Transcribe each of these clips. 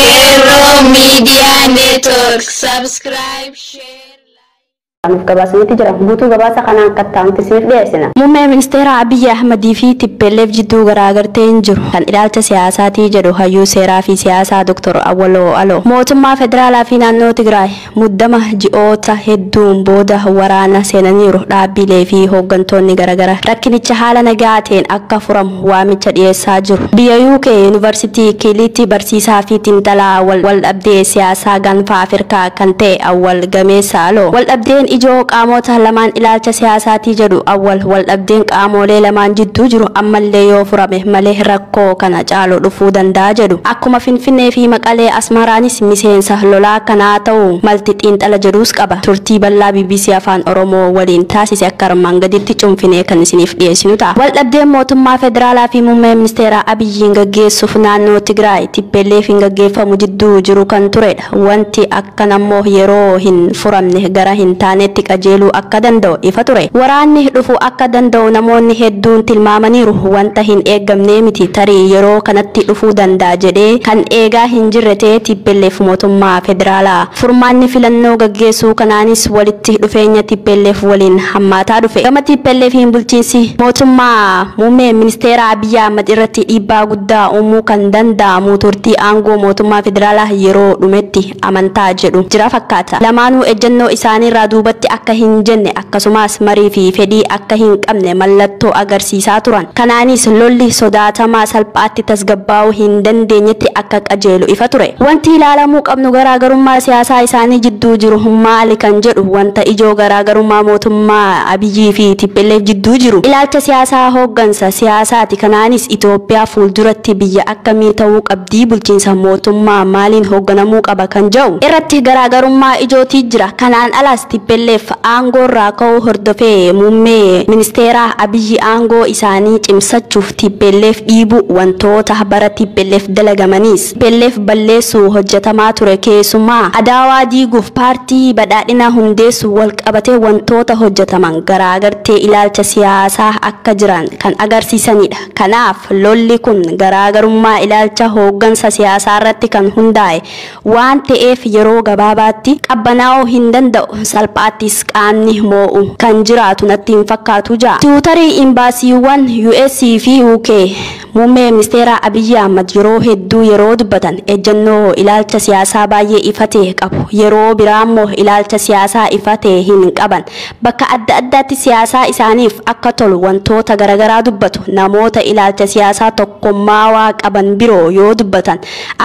Hero Media Network. Subscribe, share. Nuuf gabaasanitti jira. Guutuu gabaasa kanaa akka ta'anitti siif dhiyeessina. Muummee ministeera Abiyyi Ahmadii fi Tippelleef jidduu garaagarteen jiru kan ilaalcha siyaasaatii jedhu hayyuu seeraa fi siyaasaa Dr. Awwaloo Aloo. Mootummaa federaalaa fi naannoo Tigraay Muddama ji'oota hedduun booda waraana seenaniiru. Dhaabbiilee fi hooggantoonni garagara rakkinicha haala nagaa ta'een akka furamu waamicha dhiyeessaa jiru. Biyya UK Yuunivarsitii Kiiliitti barsiisaa fi xiinxalaa waldhabdee siyaasaa gaanfa Afirkaa kan ta'e Awwal Gameessa Aloo, waldhabdeen ijoo qaamoota lamaan ilaalcha siyaasaati jedhu. Awwal, waldhabdeen qaamoolee lamaan jidduu jiru ammallee yoo furame malee rakkoo. rakkoo kana caalu dhufuu danda'a jedhu. Akkuma Finfinnee fi Maqalee, Asmaraanis miseensa lolaa kanaa ta'uu malti xiinxala jedhuus qaba. Turtii bal'aa bbc Afaan Oromoo waliin taasise akka armaan gadiitti cunfinee kan isiniif dhiyeessinu ta'a. Waldhabdeen mootummaa federaalaa fi Muummee Ministeeraa Abiyyiin gaggeessuuf naannoo Tigraay, Tippelleefiin gaggeeffamu jidduu jiru kan ture. Wanti akkana immoo yeroo hin furamne gara hin taaneetti qajeeluu akka danda'u ifa ture. Waraanni dhufuu akka danda'u namoonni hedduun tilmaamaniiru. Wanta hin eegamnee miti. Tarii yeroo kanatti dhufuu danda'a jedhee kan eegaa hin jirre ta'ee tplf mootummaa federaalaa. Furmaanni filannoo gaggeessuu kanaanis walitti dhufeenya tplf waliin hammaataa dhufe. Gama TPLFiin bulchiinsi mootummaa muummee ministeeraa Abiy. Abiy Ahmad irratti dhiibbaa guddaa uumuu kan danda'amu turtii aangoo mootummaa federaalaa yeroo dhumetti amantaa jedhu jira fakkaata. Lamaanuu ejjennoo isaaniirraa duubatti akka hin jenne akkasumaas marii fi fedhii akka hin qabne mallattoo agarsiisaa turan. Kanaanis lolli sodaatamaa salphaatti tasgabbaa'uu hin dandeenyetti akka qajeelu ifa ture. Wanti ilaalamuu qabnu garaagarummaa siyaasaa isaanii jidduu jiru maali kan jedhu wanta ijoo garaagarummaa mootummaa. Abiy fi tplf jidduu jiru ilaalcha siyaasaa hooggansa siyaasaati kanaanis Itoophiyaa fuulduratti biyya akkamii ta'uu qabdii bulchiinsa mootummaa maaliin hoogganamuu qaba kan ja'u irratti garaagarummaa ijootii jira kanaan alaas tplf aangoorraa ka'uu hordofee muummee ministeeraa Abiy aangoo isaanii cimsachuuf tplf dhiibuu wantoota bara tplf dalagamaniis Tplf balleessuuf hojjetamaa ture keessumaa Adaawaa diiguuf paartii Badhaadhinaa hundeessuun walqabatee wantoota hojjetaman garaagartee ilaalcha siyaasaa akka jiran kan agarsiisanidha. Kanaaf lolli kun garaagarummaa ilaalcha hooggansa siyaasaarratti kan hundaa'e waan ta'eef yeroo gabaabaatti qabbanaa'uu hin danda'u salphaattis qaamni moo'u kan jiraatu natti hin fakkaatu ja. Tiwutarii Imbaasiiwwan US fi UK. Muummee Ministeeraa Abiyyi Ahmad yeroo hedduu yeroo dubbatan ejjennoo ilaalcha siyaasaa baay'ee ifa ta'e qabu. Yeroo biraammoo ilaalcha siyaasaa ifa ta'e hin qaban. Bakka adda addaatti siyaasaa isaaniif akka tolu wantoota garagaraa dubbatu. Namoota ilaalcha siyaasaa tokkommaawaa qaban biroo yoo dubbatan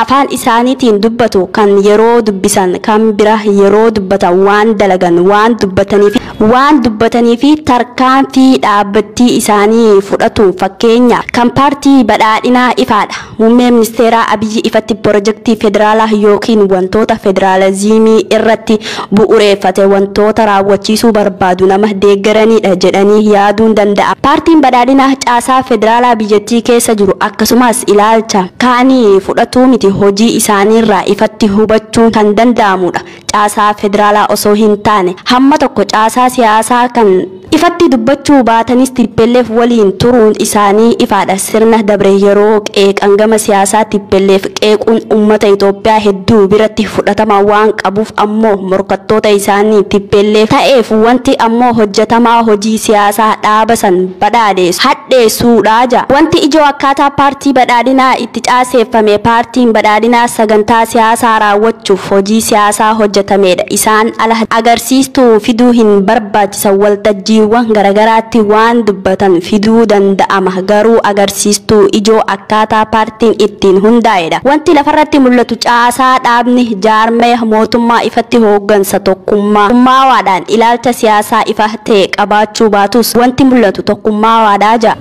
afaan isaaniitiin dubbatu kan yeroo dubbisan kan bira yeroo dubbatan waan dalagan waan dubbataniifi. waan dubbatanii fi tarkaanfii dhaabbattii isaanii fudhatuun fakkeenya kan paartii badhaadhinaa ifaadha. Muummee ministeeraa Abiyyi ifatti pirojektii federaalaa ykn wantoota federaalaziimii irratti bu'ureeffate wantoota raawwachiisuu barbaadu nama deeggaraniidha jedhanii yaaduun danda'ama. Paartiin badhaadhinaa caasaa federaalaa biyyattii keessa jiru akkasumaas ilaalcha kaanii fudhatuu miti hojii isaaniirraa ifatti hubachuun kan danda'amuudha. caasaa federaalaa osoo hin taane hamma tokko caasaa siyaasaa kan ifatti dubbachuu baatanis tplf waliin turuun isaanii ifaadha. Sirna dabre yeroo qeeqan gama siyaasaa tplf qeequun ummata Itoophiyaa hedduu biratti fudhatama waan qabuuf ammoo morkattoota isaanii tplf ta'eef wanti ammoo hojjetamaa hojii siyaasaa dhaaba san badhaadheessu, hadheessuudha. Wanti ijoo akkaataa paartii badhaadhinaa tti caaseeffame Paartiin Badhaadhinaa sagantaa siyaasaa raawwachuuf hojii siyaasaa hojjetameedha. Isaan ala agarsiistuu fiduu hin barbaachisan waltajjiiwwan garagaraatti waan dubbatan fiduu danda'ama. Garuu agarsiistuu ijoo akkaataa paartiin ittiin hundaa'eedha. Wanti lafarratti mul'atu caasaa dhaabni, jaarmaya, mootummaa ifatti hooggansa tokkummaa, kummaawaadhaan ilaalcha siyaasaa ifa ta'e qabaachuu baatus wanti mul'atu tokkummaawaadha.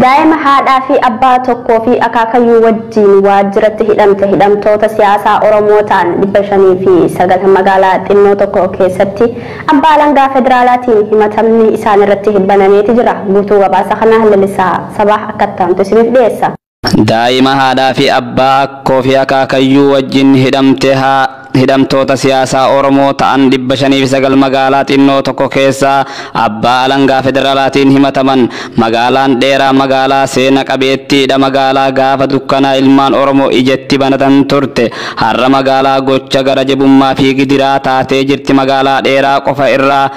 Daa'ima haadhaa fi abbaa tokkoo fi akaakayyuu wajjiin waajjiratti hidhamte hidhamtoota siyaasaa Oromoo ta'an 509 magaalaa xinnoo tokko keessatti abbaa alangaa federaalaatiin himatamni isaanirratti banameeti jira. Guutuu gabaasa kanaa Lalisaa Sabah akka itti aantu isiniif dhiyeessa. Daa'ima haadhaa fi abbaa, akkoo fi akaakayyuu wajjin hidhamte haa Hidhamtoota siyaasaa Oromoo ta'an 509 magaalaa xinnoo tokko keessaa abbaa alangaa federalaatiin himataman. Magaalaan dheeraa magaalaa seena qabeettiidha magaalaa gaafa dukkanaa ilmaan Oromoo ijatti banatan turte. Har'a magaalaa gocha gara jabummaa fi gidiraa taatee jirti magaalaa dheeraa qofa irraa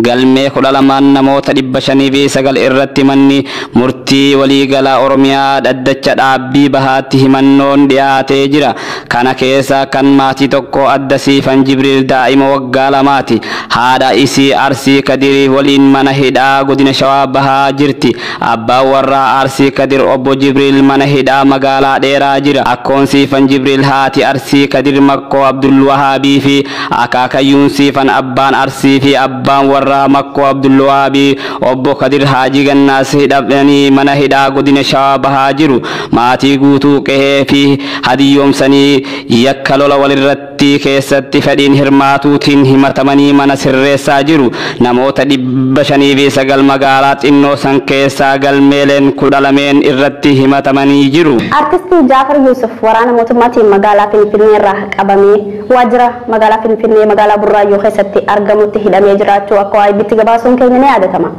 Galmee 12n namoota 509 irratti manni murtii waliigalaa Oromiyaa dhaddacha dhaabbii bahaatti himannoon dhiyaatee jira. Kana keessaa kan maatii tokkoo adda Siifan Jibriil daa'ima waggaa lamaati. Haadha isii Arsii Kadiri waliin mana hidhaa godina Shawaa Bahaa jirti. Abbaan warraa Arsii Kadir obbo Jibriil mana hidhaa magaalaa Dheeraa jira. Akkoon Siifan Jibriil haati Arsii Kadir Makkoo Abdulwahaabii fi Akaakayyuun Siifan Abbaan Arsii fi Abbaan warraa Makkoo Abdulwahaabi Obbo Kadir Haajii Gannaas hidhamanii mana hidhaa Godina Shawaa Bahaa jiru. Maatii guutuu qehee fi hadiyyoomsanii yakka lola walirrattii keessatti fedhiin hirmaatuutiin himatamanii mana sirreessaa jiru. Namoota 509 magaalaa xinnoo san keessaa galmeeleen kudha lameen irratti himatamanii jiru. Artistii Jaafar Yuusuf waraana mootummaatiin magaalaa Finfinneerraa qabamee Waajjira magaalaa Finfinnee magaalaa Burraayyuu keessatti argamutti hidhamee jiraachuu akka AIBtti gabaasuun keenya ni yaadatama.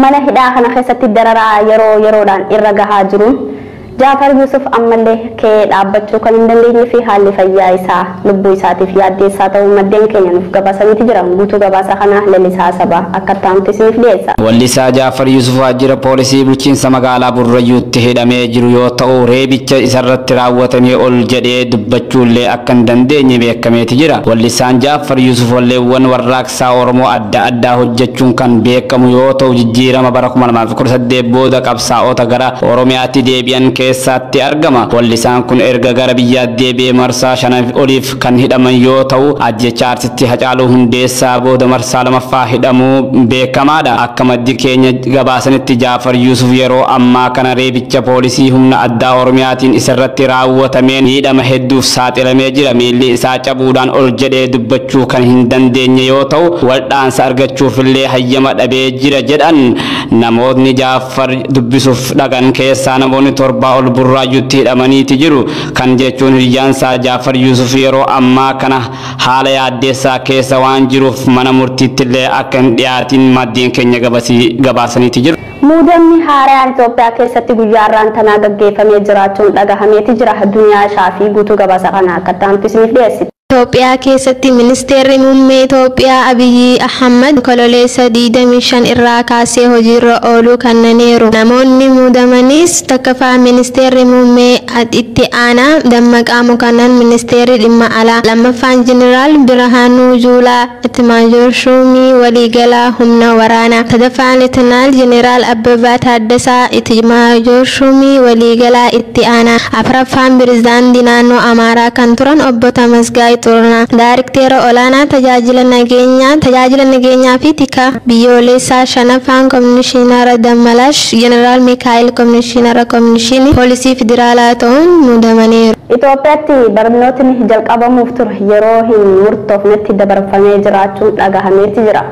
Mana hidhaa kana keessatti dararaa yeroo yeroodhaan irra gahaa jiruun Jaafar Yuusuf ammallee ka'ee dhaabbachuu kan hin dandeenyee fi haalli fayyaa isaa lubbuu isaatiif yaaddeessaa ta'uu maddeen keenya nuuf gabaasaniiti jiran. Guutuu gabaasa kanaa Lalisaa Sabaa akka itti aanutti isiniif dhiyeessa. Wallisaa Jaafar Yuusuf waajjira poolisii bulchiinsa magaalaa Burrayyuutti hidhamee jiru yoo ta'u, reebicha isarratti raawwatamee ol jedhee dubbachuullee akka hin dandeenye beekameeti jira. Wellissaan Ja'affar Yuusuf walleewwan warraaqsaa Oromoo adda addaa hojjechuun kan beekamu yoo ta'u jijjiirama bara 2018 booda qabsaa'ota gara Oromiyaatti deebi'an keessaatti argama. Wellisaan kun erga gara biyyaatti deebi'ee marsaa shanaf oliif kan hidhaman yoo ta'u ajjeechaa Artisti Hacaaluu Hundeessaa booda marsaa lamaffaa hidhamuu beekamaadha. Akka maddi keenya. Akka gabaasanitti Jaafar Yuusuf yeroo ammaa kana reebicha poolisii humna addaa Oromiyaatiin isarratti raawwatameen miidhama hedduuf saaxilamee jira. Miilli isaa cabuudhaan ol jedhee dubbachuu kan hin dandeenye yoo ta'u, waldhaansa argachuufillee hayyama dhabee jira jedhan. Namootni Jaafar dubbisuuf dhaqan keessaa namoonni torbaa ol Burraayyuutti hidhamaniiti jiru. Kan jechuun hiryaansaa Jaafar Yuusuf yeroo ammaa kana. haala yaaddeessaa keessa waan jiruuf mana murtiittillee akka hin dhiyaatiin maddeen keenya gabaasaniiti jiru. Muudamni haarayaan Itoophiyaa keessatti guyyaa har'aan tanaa gaggeeffamee jiraachuun dhagahameeti jira. Duniyaa Shaafii guutuu gabaasa kanaa akka itti aanutti isiniif dhiyeessiti. Itoophiyaa keessatti Ministeerri Muummee Itoophiyaa Abiyyi Ahmad Onkololeessa 25 irraa kaasee hojiirra ooluu kannaniiru. Namoonni muudamanis 1ffaa Ministeerri Muummee Itti aanaa Dammaqaa Mokonnon Ministeerri Dhimma Alaa 2ffaan Jeneraal Birahaanuu Juulaa Itimaajoor Shuumii Waliigalaa Humna Waraanaa 3ffaa Letenaal Jeneraal Abbabaa Taaddasaa Itimaajoor Shuumii Waliigalaa Itti aanaa 4ffaan Pirezidaantii Naannoo Amaaraa kan turan Obbo Tamasgaay Xurunaa Daarikteera Olaanaa Tajaajila Nageenyaa Tajaajila Nageenyaa fi Tikaa Biyyooleessaa 5ffaan Komishinara Dammalash Jeneraal Mikaa'el Komishinara Komishinii Poolisii Federaalaa ta'uun muudamaniiru. Itoophiyaatti barnootni jalqabamuuf ture yeroo hin murtoofnetti dabarfamee jiraachuun dhagahameeti jira.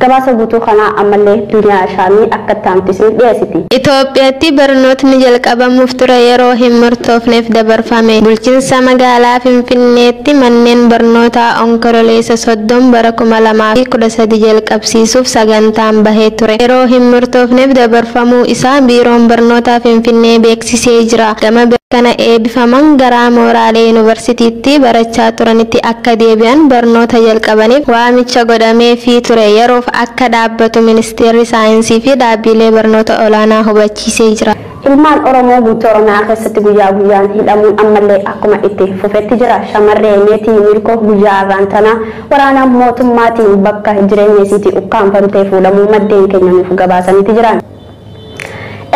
Gabaasa guutuu kanaa ammallee Duniyaa Shaamii akka itti aantu isiniif dhiyeessiti. Itoophiyaatti barnootni jalqabamuuf ture yeroo hin murtoofneef dabarfame. Bulchinsa magaalaa Finfinneetti manneen barnootaa Onkololeessa 30 bara 2013 jalqabsiifaman. qabsiisuuf sagantaan bahee ture yeroo hin murtoofneef dabarfamuu isaa Biiroon Barnootaa Finfinnee beeksisee jira. Gama biraan kana eebifaman garaa mooraalee Yuunivarsitiitti barachaa turanitti akka deebi'an barnoota jalqabaniif waamicha godhameefii ture yeroof akka dhaabbatu Ministeerri Saayinsii fi Dhaabbiilee Barnoota Olaanaa hubachiisee jira. Ilmaan Oromoo guutuu Oromiyaa keessatti guyyaa guyyaan hidhamuun ammallee akkuma itti fufetti jira. Shamarree Meetii Miilkoo guyyaa har'aan tana waraana mootummaatiin bakka jireenya isiitii ukkaamfamtee fuudhamuu maddeen keenya nuuf gabaasaniiti jiran.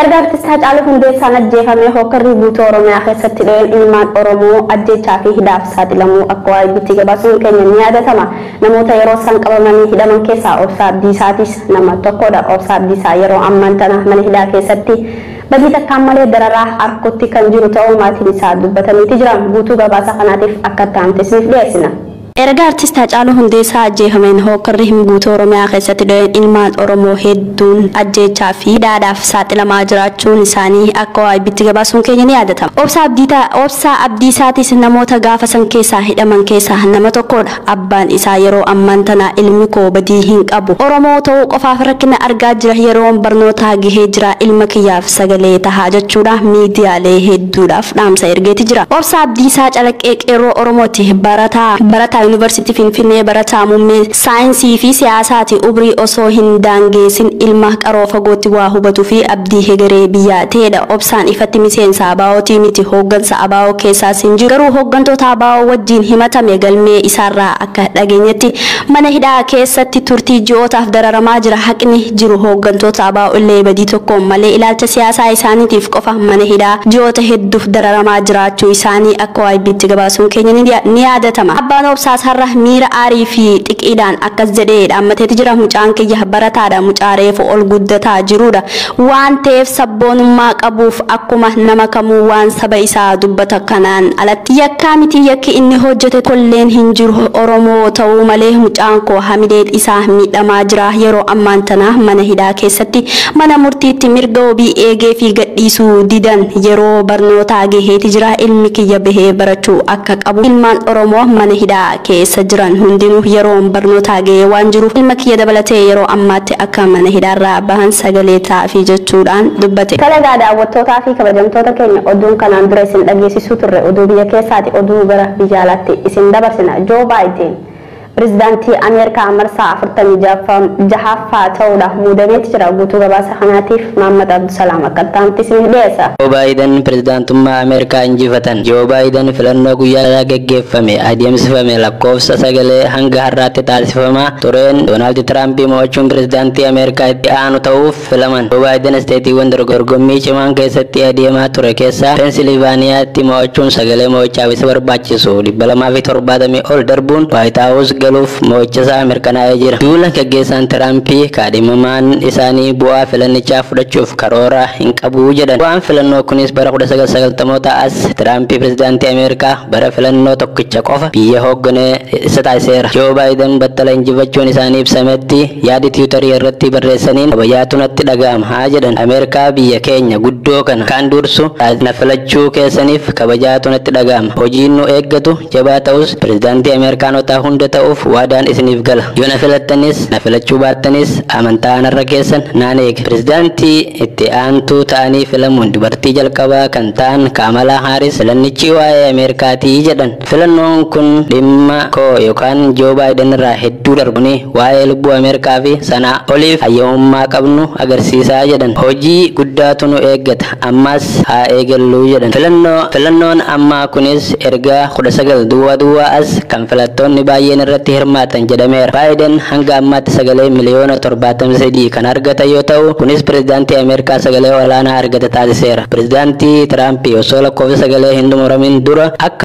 Erga Artist Hacaaluu Hundeessaan ajjeefamee hookkarri guutuu Oromiyaa keessatti dho'een ilmaan Oromoo ajjeechaa fi hidhaaf saaxilamuu akka YBT gabaasuun keenya ni yaadatama. Namoota yeroo san qabamanii hidhaman keessaa Obsaa Abdiisaatiis nama tokkoodha. Obsaa Abdiisaa yeroo ammaan tana mana hidhaa keessatti badii takkaan malee dararaa arkutti kan jiru ta'uu maatiin isaa dubbataniiti jira. Guutuu gabaasa kanaatiif akka itti aante isiniif dhiyeessina. Erga Artist Haacaaluu Hundeessaa ajjeefameen hookkarri hin guutuu Oromiyaa keessatti dho'een ilmaan Oromoo hedduun ajjeechaa fi hidhaadhaaf saaxilamaa jiraachuun isaanii akka OIBtti gabaasuun keenya ni yaadatama. Obsaa Abdiitaa, Obsaa Abdiisaatiis namoota gaafa san keessaa hidhaman keessaa nama tokkoodha. Abbaan isaa yeroo ammaan tana ilmi koo badii hin qabu Oromoo ta'uu qofaaf rakkina argaa jira yeroon barnootaa gahee jira ilma kiyyaaf sagalee tahaa jechuudha miidiyaalee hedduudhaaf dhaamsa ergeeti jira. Obsaa Abdiisaa Calaqqee Qeerroo Oromooti barataa barataa Yuunivarsiitii Finfinnee barataa muummee saayinsii fi siyaasaati ubrii osoo hin daangeesin ilma qaroo fagootti waa hubatu fi abdii hegeree biyyaa ta'eedha obsaan ifatti miseensa ABOtii miti hooggansa abo keessaas hin jiru garuu hooggantoota abo wajjiin himatame galmee isaarraa akka dhageenyetti mana hidhaa keessatti turtii ji'ootaaf dararamaa jira haqni jiru hooggantoota abo illee badii tokkoon malee ilaalcha siyaasaa isaaniitiif qofa mana hidhaa ji'oota hedduuf dararamaa jiraachuu isaanii akka YBtti gabaasuun keenya ni yaadatama abbaan obsaas har'a miira aarii fi xiqiidhaan akkas jedhee dhaammateeti jira mucaan kiyya barataadha mucaa reefu ol guddataa jiruudha Waan ta'eef sabboonummaa qabuuf akkuma nama kamuu waan saba isaa dubbata kanaan alatti yakkaa miti yakki inni hojjete tokkolleen hin jiru oromoo ta'uu malee mucaan koo hamileen isaa miidhamaa jira yeroo ammaan tana mana hidhaa keessatti mana murtiitti mirga wobii eegeefii gadhiisuu didan yeroo barnootaa geheeti jira ilmi kiyya bahee barachuu akka qabu ilmaan oromoo mana hidhaa keessa jiran hundinuu yeroon barnootaa ga'ee waan jiruuf ilma kiyya dabalatee yeroo ammaatti akka mana hidhaarraa bahan sagalee ta'aafii jechuudhaan dubbate. Tole egaa daawwattootaa fi kabajamtoota keenya oduun kanaan dura isin dhageessisuu turre oduu biyya keessaati oduu gara biyya alaatti isin dabarsina Joo Baayideen Pirezidaantii Ameerikaa marsaa 46ffaa ta'uudhaaf muudameeti jira guutuu gabaasa kanaatiif Maammad Abdusalaam akka itti aanutti isiniif dhiyeessa. Joo Baayidan Pirezidaantummaa Ameerikaa Injifatan. Joo Baayidan filannoo guyyaa irraa geggeeffame adeemsifame lakkoofsa sagalee hanga har'aatti taasifamaa tureen Doonaald Tiraampi mo'achuun pirezidaantii Ameerikaa itti aanu ta'uuf filaman. Joo Baayidan isteetiiwwan dorgommii cimaan keessatti adeemaa ture keessaa Peensiilivaaniyaatti mo'achuun sagalee mo'ichaaf isa barbaachisu 270 ol darbuun Waayit Haawus galuuf mo'ichasaa mirkanaa'ee jira. Duula gaggeessaan Tiraampi kaadhimamaan isaanii bu'aa filannichaa fudhachuuf karoora hin qabu jedhan. Bu'aan filannoo kunis bara 1990'ootaa as Tiraampi pirezidaantii Ameerikaa bara filannoo tokkicha qofa biyya hooggane isa taasiseera. Joo Baayidan battala injifachuun isaanii ibsametti yaadi tiwutarii irratti barreessaniin kabajaatu natti dhaga'ama jedhan. Ameerikaa biyya keenya guddoo kana kan dursu na filachuu keessaniif kabajaatu natti dhaga'ama. Hojiin nu eeggatu jabaa ta'us pirezidaantii Ameerikaanotaa hunda ta'uuf waadaan isiniif gala. Yoo na filattanis na filachuu baattanis Amantaa aanarra keessan naan eega. Pirezidaantii itti aantuu ta'anii filamuun dubartii jalqabaa kan ta'an Kaamalaa Haaris filannichi waa'ee Ameerikaati jedhan. Filannoon kun dhimma koo yookaan Joo Baayiden irraa hedduu darba. Kuni waa'ee lubbuu Ameerikaa fi sanaa oliif hayyamummaa qabnu agarsiisa jedhan. Hojii guddaatu nu eeggata. ammas haa eegalluu jedhan. Filannoo, Filannoon ammaa kunis erga kudha sagal duwwaa duwwaa as kan filattoonni baayyeen irratti hirmaatan jedhameera. Baayiden hanga ammaatti sagalee miliyoona torbaatamii sadii kan argatan yoo ta'u, kunis pirezidaantii Ameerikaa sagalee olaanaa argata taasiseera. Pirezidaantii Tiraampi osoo lakkoofsi sagalee hin xumuramin dura akka.